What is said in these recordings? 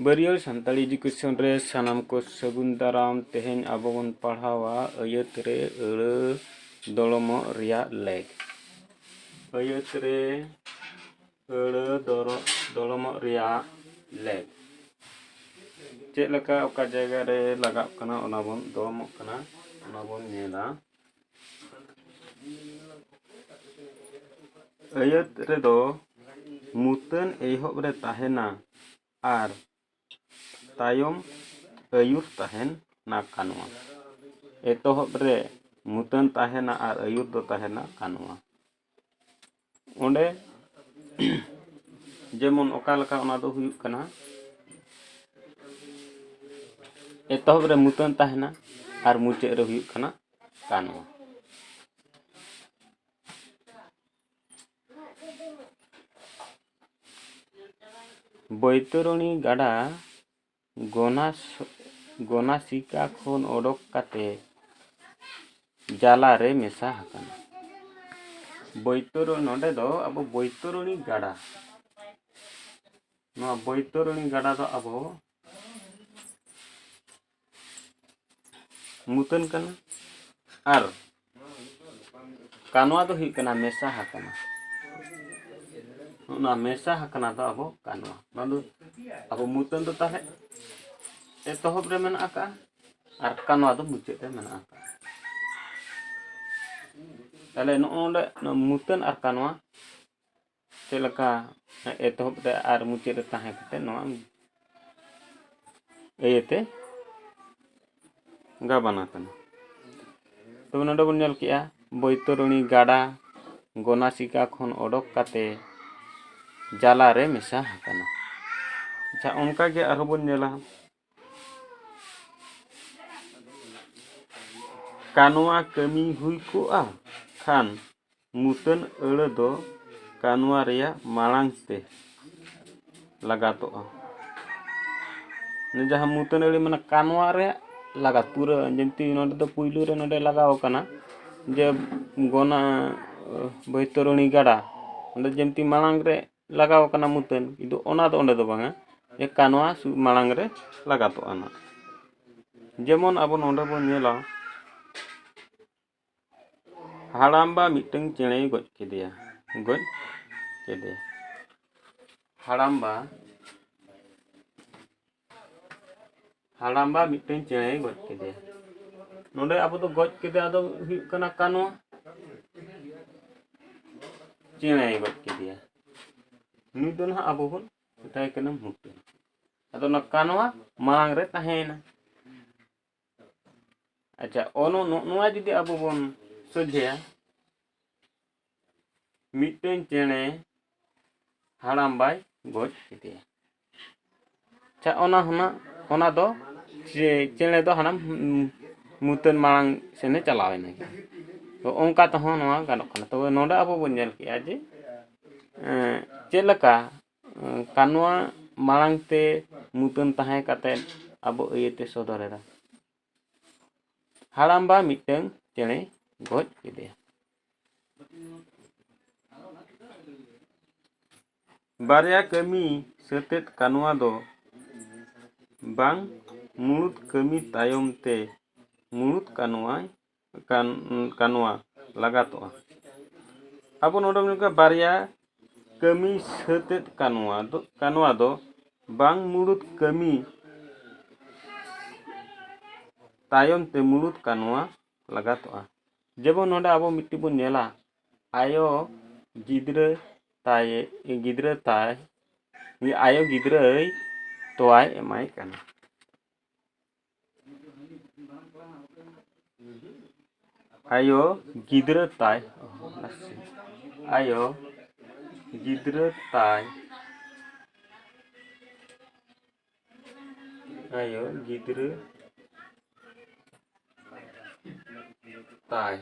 ᱵᱟᱹᱨᱭᱟᱹᱲ Santali education ᱨᱮ ᱥᱟᱱᱟᱢ ᱠᱚ ᱥᱟᱹᱜᱩᱱ ᱫᱟᱨᱟᱢ ᱛᱮᱦᱮᱧ ᱟᱵᱚ ᱵᱚᱱ ᱯᱟᱲᱦᱟᱣᱟ ᱟᱹᱭᱟᱹᱛ ᱨᱮ ᱟᱹᱲᱟᱹ ᱫᱚᱲᱚᱢᱚᱜ ᱨᱮᱭᱟᱜ ᱞᱮᱠ ᱟᱹᱭᱟᱹᱛ ᱨᱮ ᱟᱹᱲᱟᱹ ᱫᱚᱨᱚ ᱫᱚᱲᱚᱢᱚᱜ ᱨᱮᱭᱟᱜ ᱞᱮᱠ ᱪᱮᱫ ᱞᱮᱠᱟ ᱚᱠᱟ ᱡᱟᱭᱜᱟ ᱨᱮ ᱞᱟᱜᱟᱜ ᱠᱟᱱᱟ ᱚᱱᱟ ᱵᱚᱱ ᱫᱚᱲᱚᱢᱚᱜ ᱠᱟᱱᱟ ᱚᱱᱟ ᱵᱚᱱ ᱧᱮᱞᱟ ᱟᱹᱭᱟᱹᱛ ᱨᱮᱫᱚ ᱢᱩᱛᱟᱹᱱ ᱮᱦᱚᱵ ᱨᱮ ᱛᱟᱦᱮᱱᱟ ᱟᱨ ᱛᱟᱭᱚᱢ ᱟᱹᱭᱩᱨ ᱛᱟᱦᱮᱱ ᱱᱟ ᱠᱟᱱᱣᱟ ᱮᱛᱚᱦᱚᱵ ᱨᱮ ᱢᱩᱛᱟᱹᱱ ᱛᱟᱦᱮᱱᱟ ᱟᱨ ᱟᱹᱭᱩᱨ ᱫᱚ ᱛᱟᱦᱮᱱᱟ ᱠᱟᱱᱣᱟ ᱚᱸᱰᱮ ᱡᱮᱢᱚᱱ ᱚᱠᱟ ᱞᱮᱠᱟ ᱚᱱᱟ ᱫᱚ ᱦᱩᱭᱩᱜ ᱠᱟᱱᱟ ᱮᱛᱚᱦᱚᱵ ᱨᱮ ᱢᱩᱛᱟᱹᱱ ᱛᱟᱦᱮᱱᱟ ᱟᱨ ᱢᱩᱪᱟᱹᱫ ᱨᱮ ᱦᱩᱭᱩᱜ ᱠᱟᱱᱟ ᱠᱟᱱᱣᱟ ᱵᱳᱭᱛᱚᱨᱚᱱᱤ ᱜᱟᱰᱟ ᱜᱚᱱᱟᱥᱤᱠᱟ ᱠᱷᱚᱱ ᱚᱰᱚᱠ ᱠᱟᱛᱮ ᱡᱟᱞᱟ ᱨᱮ ᱢᱮᱥᱟ ᱟᱠᱟᱱᱟ ᱵᱳᱭᱛᱚᱨᱚᱱᱤ ᱱᱚᱰᱮ ᱫᱚ ᱟᱵᱚ ᱵᱳᱭᱛᱚᱨᱚᱱᱤ ᱜᱟᱰᱟ ᱱᱚᱣᱟ ᱵᱳᱭᱛᱚᱨᱚᱱᱤ ᱜᱟᱰᱟ ᱫᱚ ᱟᱵᱚ ᱢᱩᱛᱟᱹᱱ ᱠᱟᱱᱟ ᱟᱨ ᱠᱟᱱᱣᱟ ᱫᱚ ᱦᱩᱭᱩᱜ ᱠᱟᱱᱟ ᱢᱮᱥᱟ ᱦᱟᱠᱟᱱᱟ ᱚᱱᱟ ᱢᱮᱥᱟ ᱦᱟᱠᱟᱱᱟ ᱫᱚ ᱟᱵᱚ ᱠᱟᱱᱣᱟ ᱱᱚᱣᱟ ᱫᱚ ᱟᱵᱚ ᱢᱩᱛᱟᱹᱱ ᱫᱚ ᱛᱟᱦᱚᱞᱮ ᱮᱛᱚᱦᱚᱵ ᱨᱮ ᱢᱮᱱᱟᱜ ᱟᱠᱟᱜᱼᱟ ᱟᱨ ᱠᱟᱱᱣᱟ ᱫᱚ ᱢᱩᱪᱟᱹᱫ ᱨᱮ ᱢᱮᱱᱟᱜ ᱟᱠᱟᱜᱼᱟ ᱛᱟᱦᱚᱞᱮ ᱱᱚᱜᱼᱚ ᱱᱚᱰᱮ ᱢᱩᱛᱟᱹᱱ ᱟᱨ ᱠᱟᱱᱣᱟ ᱪᱮᱫ ᱞᱮᱠᱟ ᱮᱛᱚᱦᱚᱵ ᱨᱮ ᱟᱨ ᱢᱩᱪᱟᱹᱫ ᱨᱮ ᱛᱟᱦᱮᱸ ᱠᱟᱛᱮ ᱱᱚᱣᱟ ᱤᱭᱟᱹᱛᱮ ᱜᱟᱵᱟᱱ ᱟᱠᱟᱱᱟ ᱛᱚᱵᱮ ᱱᱚᱰᱮ ᱵᱚᱱ ᱧᱮᱞ ᱠᱮᱜᱼᱟ ᱵᱳᱭᱛᱚᱨᱚᱬᱤ ᱜᱟᱰᱟ ᱜᱚᱱᱟᱥᱤᱠᱟ ᱠᱷᱚᱱ ᱚᱰᱚᱠ ᱠᱟᱛᱮ ᱡᱟᱞᱟᱨᱮ ᱢᱮᱥᱟ ᱟᱠᱟᱱᱟ ᱟᱪᱪᱷᱟ ᱚᱱᱠᱟᱜᱮ ᱟᱨᱦᱚᱸ ᱵᱚᱱ ᱧᱮᱞᱟ ᱠᱟᱱᱣᱟ ᱠᱟᱹᱢᱤ ᱦᱩᱭ ᱠᱚᱜᱼᱟ ᱠᱷᱟᱱ ᱢᱩᱛᱟᱹᱱ ᱟᱹᱲᱟᱹ ᱫᱚ ᱠᱟᱱᱣᱟ ᱨᱮᱭᱟᱜ ᱢᱟᱲᱟᱝ ᱛᱮ ᱞᱟᱜᱟᱛᱚᱜᱼᱟ ᱡᱟᱦᱟᱸ ᱢᱩᱛᱟᱹᱱ ᱟᱹᱲᱟᱹ ᱢᱮᱱᱟᱜᱼᱟ ᱠᱟᱱᱣᱟ ᱨᱮ ᱞᱟᱜᱟᱛ ᱯᱩᱨᱟᱹ ᱡᱮᱢᱛᱤ ᱱᱚᱸᱰᱮ ᱫᱚ ᱯᱩᱭᱞᱩ ᱨᱮ ᱱᱚᱸᱰᱮ ᱞᱟᱜᱟᱣ ᱠᱟᱱᱟ ᱡᱮ ᱜᱚᱱᱟ ᱵᱳᱭᱛᱚᱨᱚᱱᱤ ᱜᱟᱰᱟ ᱚᱸᱰᱮ ᱡᱮᱢᱛᱤ ᱢᱟᱲᱟᱝ ᱨᱮ ᱞᱟᱜᱟᱣ ᱠᱟᱱᱟ ᱢᱩᱛᱟᱹᱱ ᱠᱤᱱᱛᱩ ᱚᱱᱟ ᱫᱚ ᱚᱸᱰᱮ ᱫᱚ ᱵᱟᱝᱟ ᱡᱮ ᱠᱟᱱᱣᱟ ᱢᱟᱲᱟᱝ ᱨᱮ ᱞᱟᱜᱟᱛᱚᱜᱼᱟ ᱱᱟᱜ ᱡᱮᱢᱚᱱ ᱟᱵᱚ ᱱᱚᱰᱮ ᱵᱚᱱ ᱧᱮᱞᱟ ᱦᱟᱲᱟᱢᱵᱟ ᱢᱤᱫᱴᱟᱝ ᱪᱮᱬᱮᱭ ᱜᱚᱡ ᱠᱮᱫᱮᱭᱟ ᱜᱚᱡ ᱠᱮᱫᱮᱭᱟ ᱦᱟᱲᱟᱢᱵᱟ ᱦᱟᱲᱟᱢᱵᱟ ᱢᱤᱫᱴᱮᱱ ᱪᱮᱬᱮᱭ ᱜᱚᱡ ᱠᱮᱫᱮᱭᱟ ᱱᱚᱰᱮ ᱟᱵᱚ ᱫᱚ ᱜᱚᱡ ᱠᱮᱫᱮᱭᱟ ᱫᱚ ᱦᱩᱭᱩᱜ ᱠᱟᱱᱟ ᱠᱟᱱᱚ ᱪᱮᱬᱮᱭ ᱜᱚᱡ ᱠᱮᱫᱮᱭᱟ ᱩᱱᱤ ᱫᱚ ᱱᱟᱦᱟᱜ ᱟᱵᱚ ᱵᱚᱱ ᱢᱮᱛᱟᱭ ᱠᱟᱱᱟ ᱢᱩᱴᱩ ᱟᱫᱚ ᱚᱱᱟ ᱠᱟᱱᱣᱟ ᱢᱟᱲᱟᱝ ᱨᱮ ᱛᱟᱦᱮᱸᱭᱮᱱᱟ ᱟᱪᱪᱷᱟ ᱚᱱᱚ ᱱᱚᱜᱼᱚ ᱱᱚᱣᱟ ᱡᱩᱫᱤ ᱟᱵᱚ ᱵᱚᱱ ᱥᱚᱡᱷᱮᱭᱟ ᱢᱤᱫᱴᱮᱱ ᱪᱮᱬᱮ ᱦᱟᱲᱟᱢ ᱵᱟᱭ ᱜᱚᱡ ᱠᱮᱫᱮᱭᱟ ᱟᱪᱪᱷᱟ ᱚᱱᱟ ᱦᱩᱱᱟᱹᱜ ᱚᱱᱟ ᱫᱚ ᱪᱮᱬᱮ ᱫᱚ ᱦᱟᱲᱟᱢ ᱢᱩᱛᱟᱹᱫ ᱢᱟᱲᱟᱝ ᱥᱮᱱᱮ ᱪᱟᱞᱟᱣ ᱮᱱᱟ ᱛᱚ ᱚᱱᱠᱟ ᱛᱮᱦᱚᱸ ᱱᱚᱣᱟ ᱜᱟᱱᱚᱜ ᱠᱟᱱᱟ ᱛᱚᱵᱮ ᱱᱚᱰᱮ ᱟᱵᱚ ᱵᱚᱱ ᱧᱮᱞ ᱠᱮᱜᱼᱟ ᱡᱮ ᱪᱮᱫ ᱞᱮᱠᱟ ᱠᱟᱱᱣᱟ ᱢᱟᱲᱟᱝ ᱛᱮ ᱢᱩᱛᱟᱹᱫ ᱛᱟᱦᱮᱸ ᱠᱟᱛᱮᱫ ᱟᱵᱚ ᱤᱭᱟᱹᱛᱮ ᱥᱚᱫᱚᱨ ᱮᱫᱟ ᱦᱟᱲᱟᱢᱵᱟ ᱢᱤᱫᱴᱟᱹᱝ ᱪᱮᱬᱮᱭ ᱜᱚᱡ ᱠᱮᱫᱮᱭᱟ ᱵᱟᱨᱭᱟ ᱠᱟᱹᱢᱤ ᱥᱟᱹᱛᱮᱫ ᱠᱟᱱᱣᱟ ᱫᱚ ᱵᱟᱝ ᱢᱩᱬᱩᱛ ᱠᱟᱹᱢᱤ ᱛᱟᱭᱚᱢ ᱛᱮ ᱢᱩᱬᱩᱛ ᱠᱟᱱᱣᱟᱭ ᱠᱟᱱᱣᱟ ᱞᱟᱜᱟᱛᱚᱜᱼᱟ ᱟᱵᱚ ᱱᱚᱰᱮ ᱢᱮᱱᱟᱜ ᱠᱚᱣᱟ ᱵᱟᱨᱭᱟ ᱠᱟᱹᱢᱤ ᱥᱟᱹᱛᱮᱫ ᱠᱟᱱᱣᱟ ᱫᱚ ᱠᱟᱱᱣᱟ ᱫᱚ ᱵᱟᱝ ᱢᱩᱬᱩᱛ ᱠᱟᱹᱢᱤ ᱛᱟᱭᱚᱢ ᱛᱮ ᱢᱩᱬᱩᱛ ᱠᱟᱱᱣᱟ ᱞᱟᱜᱟᱛᱚᱜᱼᱟ ᱡᱮᱢᱚᱱ ᱱᱚᱰᱮ ᱟᱵᱚ ᱢᱤᱫᱴᱤᱡ ᱵᱚᱱ ᱧᱮᱞᱟ ᱟᱭᱳ ᱜᱤᱫᱽᱨᱟᱹ ᱛᱟᱭ ᱜᱤᱫᱽᱨᱟᱹ ᱛᱟᱭ ᱟᱭᱳ ᱜᱤᱫᱽᱨᱟᱹᱭ ᱛᱳᱣᱟᱭ ᱮᱢᱟᱭ ᱠᱟᱱᱟ ᱟᱭᱳ ᱜᱤᱫᱽᱨᱟᱹ ᱛᱟᱭ ᱟᱭᱳ ᱜᱤᱫᱽᱨᱟᱹ ᱛᱟᱭ ᱟᱭᱳ ᱜᱤᱫᱽᱨᱟᱹ ᱛᱟᱭ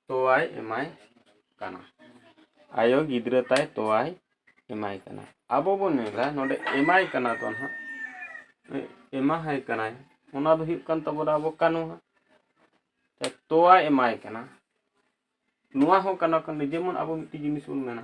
ᱛᱳᱣᱟᱭ ᱮᱢᱟᱭ ᱠᱟᱱᱟ ᱟᱭᱳ ᱜᱤᱫᱽᱨᱟᱹ ᱛᱟᱭ ᱛᱳᱣᱟᱭ ᱮᱢᱟᱭ ᱠᱟᱱᱟ ᱟᱵᱚ ᱵᱚᱱ ᱢᱮᱱᱟ ᱱᱚᱰᱮ ᱮᱢᱟᱭ ᱠᱟᱱᱟ ᱫᱚ ᱱᱟᱦᱟᱜ ᱮᱢᱟᱦᱟᱭ ᱠᱟᱱᱟᱭ ᱚᱱᱟ ᱫᱚ ᱦᱩᱭᱩᱜ ᱠᱟᱱ ᱛᱟᱵᱚᱱᱟ ᱟᱵᱚ ᱠᱟᱱᱩ ᱛᱳᱣᱟᱭ ᱮᱢᱟᱭ ᱠᱟᱱᱟ ᱱᱚᱣᱟ ᱦᱚᱸ ᱠᱟᱱᱟ ᱠᱟᱱ ᱡᱮᱢᱚᱱ ᱟᱵᱚ ᱢᱤᱫᱴᱤᱡ ᱡᱤᱱᱤᱥ ᱵᱚᱱ ᱢᱮᱱᱟ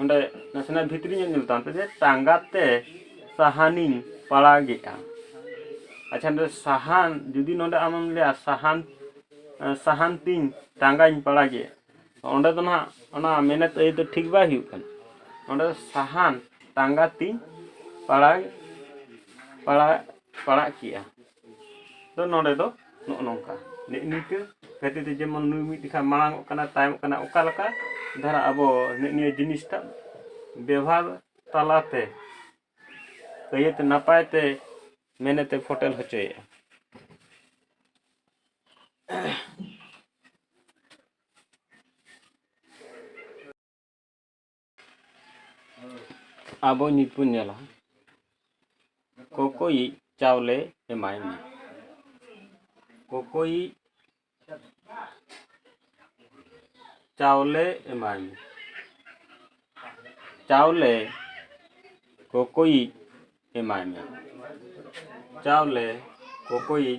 ᱚᱸᱰᱮ ᱱᱟᱥᱮᱱᱟᱜ ᱵᱷᱤᱛᱨᱤ ᱧᱚᱜ ᱧᱮᱞ ᱛᱟᱭᱚᱢ ᱛᱮᱜᱮ ᱴᱟᱸᱜᱟ ᱛᱮ ᱥᱟᱦᱟᱱᱤᱧ ᱯᱟᱲᱟᱜᱮᱜᱼᱟ ᱟᱪᱪᱷᱟ ᱱᱚᱸᱰᱮ ᱥᱟᱦᱟᱱ ᱡᱩᱫᱤ ᱱᱚᱸᱰᱮ ᱟᱢᱮᱢ ᱞᱟᱹᱭᱟ ᱥᱟᱦᱟᱱ ᱥᱟᱦᱟᱱ ᱛᱤᱧ ᱴᱟᱸᱜᱟᱧ ᱯᱟᱲᱟᱜᱮᱜᱼᱟ ᱚᱸᱰᱮ ᱫᱚ ᱱᱟᱦᱟᱜ ᱚᱱᱟ ᱢᱮᱱᱮᱛ ᱟᱹᱭᱟᱹᱛ ᱫᱚ ᱴᱷᱤᱠ ᱵᱟᱭ ᱦᱩᱭᱩᱜ ᱠᱟᱱᱟ ᱚᱸᱰᱮ ᱫᱚ ᱥᱟᱦᱟᱱ ᱴᱟᱸᱜᱟ ᱛᱤᱧ ᱯᱟᱲᱟᱜ ᱯᱟᱲᱟᱜ ᱯᱟᱲᱟᱜ ᱠᱮᱜᱼᱟ ᱫᱚ ᱱᱚᱰᱮ ᱫᱚ ᱱᱚᱜᱼᱚ ᱱᱚᱝᱠᱟ ᱱᱮᱜᱼᱮ ᱱᱤᱝᱠᱟᱹ ᱠᱷᱟᱹᱛᱤᱨ ᱛᱮ ᱡᱮᱢᱚᱱ ᱱᱩᱭ ᱢᱤᱫ ᱞᱮᱠᱷᱟᱱ ᱢᱟᱲᱟᱝᱚᱜ ᱠᱟᱱᱟ ᱛᱟᱭᱚᱢᱚᱜ ᱠᱟᱱᱟ ᱚᱠᱟ ᱞᱮᱠᱟ ᱫᱷᱟᱨᱟ ᱟᱵᱚ ᱱᱮᱜᱼᱮ ᱱᱤᱭᱟᱹ ᱡᱤᱱᱤᱥᱴᱟ ᱵᱮᱵᱷᱟᱨ ᱛᱟᱞᱟ ᱛᱮ ᱟᱹᱭᱟᱹᱛ ᱱᱟᱯᱟᱭ ᱛᱮ ᱢᱮᱱᱮᱛᱮ ᱯᱷᱳᱴᱮᱞ ᱦᱚᱪᱚᱭᱮᱫᱼᱟ ᱟᱵᱚ ᱱᱤᱛ ᱵᱚᱱ ᱧᱮᱞᱟ ᱠᱚᱠᱚᱭᱤᱡ ᱪᱟᱣᱞᱮ ᱮᱢᱟᱭ ᱢᱮ ᱠᱚᱠᱚᱭᱤᱡ ᱪᱟᱣᱞᱮ ᱮᱢᱟᱭ ᱢᱮ ᱪᱟᱣᱞᱮ ᱠᱚᱠᱚᱭᱤᱡ ᱮᱢᱟᱭ ᱢᱮ ᱪᱟᱣᱞᱮ ᱠᱚᱠᱚᱭᱤᱡ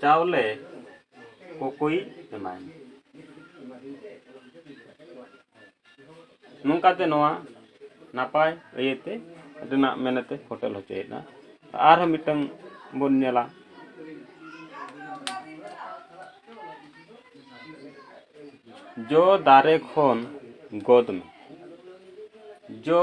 ᱪᱟᱣᱞᱮ ᱠᱚᱠᱚᱭ ᱮᱢᱟᱭ ᱢᱟ ᱱᱚᱝᱠᱟ ᱛᱮ ᱱᱚᱣᱟ ᱱᱟᱯᱟᱭ ᱤᱭᱟᱹ ᱛᱮ ᱨᱮᱱᱟᱜ ᱢᱮᱱᱮᱛ ᱛᱮ ᱯᱷᱳᱴᱮᱞ ᱦᱚᱪᱚᱭᱮᱫᱟ ᱟᱨᱦᱚᱸ ᱢᱤᱫᱴᱟᱹᱝ ᱵᱚᱱ ᱧᱮᱞᱟ ᱡᱚ ᱫᱟᱨᱮ ᱠᱷᱚᱱ ᱜᱚᱫᱽ ᱢᱮ ᱡᱚ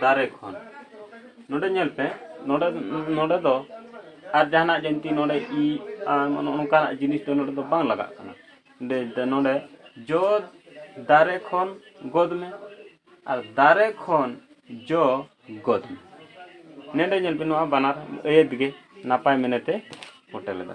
ᱫᱟᱨᱮ ᱠᱷᱚᱱ ᱱᱚᱰᱮ ᱧᱮᱞ ᱯᱮ ᱱᱚᱰᱮ ᱱᱚᱰᱮ ᱫᱚ ᱟᱨ ᱡᱟᱦᱟᱱᱟᱜ ᱡᱤᱱᱛᱤ ᱱᱚᱰᱮ ᱤ ᱟᱨ ᱱᱚᱜᱼᱚ ᱱᱚᱝᱠᱟᱱᱟᱜ ᱡᱤᱱᱤᱥ ᱫᱚ ᱱᱚᱰᱮ ᱫᱚ ᱵᱟᱝ ᱞᱟᱜᱟᱜ ᱠᱟᱱᱟ ᱫᱮ ᱱᱚᱰᱮ ᱡᱚ ᱫᱟᱨᱮ ᱠᱷᱚᱱ ᱜᱚᱫ ᱢᱮ ᱟᱨ ᱫᱟᱨᱮ ᱠᱷᱚᱱ ᱡᱚ ᱜᱚᱫ ᱢᱮ ᱱᱚᱰᱮ ᱧᱮᱞ ᱵᱤᱱ ᱱᱚᱣᱟ ᱵᱟᱱᱟᱨ ᱟᱹᱭᱟᱹᱛ ᱜᱮ ᱱᱟᱯᱟᱭ ᱢᱮᱱᱮᱛᱮ ᱯᱷᱳᱴᱮᱞ ᱮᱫᱟ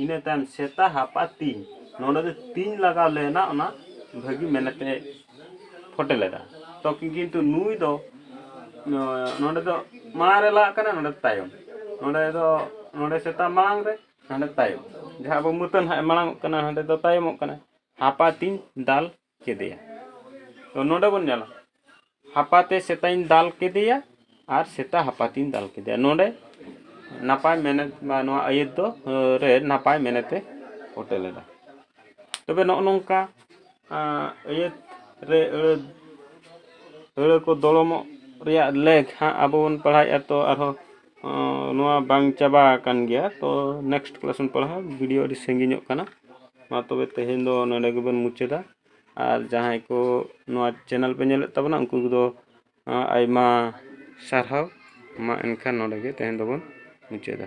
ᱤᱱᱟᱹ ᱛᱟᱭᱚᱢ ᱥᱮᱛᱟ ᱦᱟᱯᱟ ᱛᱤᱧ ᱱᱚᱰᱮ ᱫᱚ ᱛᱤᱧ ᱞᱟᱜᱟᱣ ᱞᱮᱱᱟ ᱚᱱᱟ ᱵᱷᱟᱹᱜᱤ ᱢᱮᱱᱮᱛᱮ ᱯᱷᱚᱴᱮ ᱞᱮᱫᱟ ᱛᱚ ᱠᱤᱱᱛᱩ ᱱᱩᱭ ᱫᱚ ᱱᱚᱰᱮ ᱫᱚ ᱢᱟᱲᱟᱝ ᱨᱮ ᱞᱟᱜᱟᱜ ᱠᱟᱱᱟ ᱱᱚᱰᱮ ᱫᱚ ᱛᱟᱭᱚᱢ ᱱᱚᱰᱮ ᱫᱚ ᱱᱚᱰᱮ ᱥᱮᱛᱟ ᱢᱟᱲᱟᱝ ᱨᱮ ᱦᱟᱸᱰᱮ ᱛᱟᱭᱚᱢ ᱡᱟᱦᱟᱸ ᱟᱵᱚ ᱢᱟᱹᱛᱟᱹᱱ ᱦᱟᱸᱜ ᱮ ᱢᱟᱲᱟᱝᱚᱜ ᱠᱟᱱᱟ ᱦᱟᱸᱰᱮ ᱫᱚ ᱛᱟᱭᱚᱢᱚᱜ ᱠᱟᱱᱟᱭ ᱦᱟᱯᱟ ᱛᱤᱧ ᱫᱟᱞ ᱠᱮᱫᱮᱭᱟ ᱛᱚ ᱱᱚᱰᱮ ᱵᱚᱱ ᱧᱮᱞᱟ ᱦᱟᱯᱟᱛᱮ ᱥᱮᱛᱟᱧ ᱫᱟᱞ ᱠᱮᱫᱮᱭᱟ ᱟᱨ ᱥᱮᱛᱟ ᱦᱟᱯᱟᱛᱤᱧ ᱫᱟᱞ ᱠᱮᱫᱮᱭᱟ ᱱᱚᱰᱮ ᱱᱟᱯᱟᱭ ᱢᱮᱱᱮᱛ ᱵᱟ ᱱᱚᱣᱟ ᱟᱹᱭᱟᱹᱛ ᱫᱚ ᱨᱮ ᱱᱟᱯᱟᱭ ᱢᱮᱱᱮᱛᱮ ᱯᱷᱳᱴᱮ ᱞᱮᱫᱟ ᱛᱚᱵᱮ ᱱᱚᱜᱼᱚ ᱱᱚᱝᱠᱟ ᱟᱹᱭᱟᱹᱛ ᱨᱮ ᱟᱹᱲᱟᱹ ᱟᱹᱲᱟᱹ ᱠᱚ ᱫᱚᱲᱚᱢᱚᱜ ᱨᱮᱭᱟᱜ ᱞᱮᱠ ᱦᱟᱸᱜ ᱟᱵᱚ ᱵᱚᱱ ᱯᱟᱲᱦᱟᱣᱮᱫᱼᱟ ᱛᱚ ᱟᱨᱦᱚᱸ ᱱᱚᱣᱟ ᱵᱟᱝ ᱪᱟᱵᱟ ᱟᱠᱟᱱ ᱜᱮᱭᱟ ᱛᱚ ᱱᱮᱠᱥᱴ ᱠᱞᱟᱥ ᱵᱚᱱ ᱯᱟᱲᱦᱟᱣᱟ ᱵᱷᱤᱰᱤᱭᱳ ᱟᱹᱰᱤ ᱥᱟᱺᱜᱤᱧᱚᱜ ᱠᱟᱱᱟ ᱢᱟ ᱛᱚᱵᱮ ᱛᱮᱦᱮᱧ ᱫᱚ ᱱᱚᱰᱮ ᱜᱮᱵᱚᱱ ᱢᱩᱪᱟᱹᱫᱟ ᱟᱨ ᱡᱟᱦᱟᱸᱭ ᱠᱚ ᱱᱚᱣᱟ ᱪᱮᱱᱮᱞ ᱯᱮ ᱧᱮᱞᱮᱫ ᱛᱟᱵᱚᱱᱟ ᱩᱱᱠᱩ ᱠᱚᱫᱚ ᱟᱭᱢᱟ ᱥᱟᱨᱦᱟᱣ ᱢᱟ ᱮᱱᱠᱷᱟᱱ ᱱᱚᱰᱮ ᱜᱮ ᱛᱮᱦᱮᱧ ᱫᱚᱵᱚᱱ ᱢᱩᱪᱟᱹᱫᱟ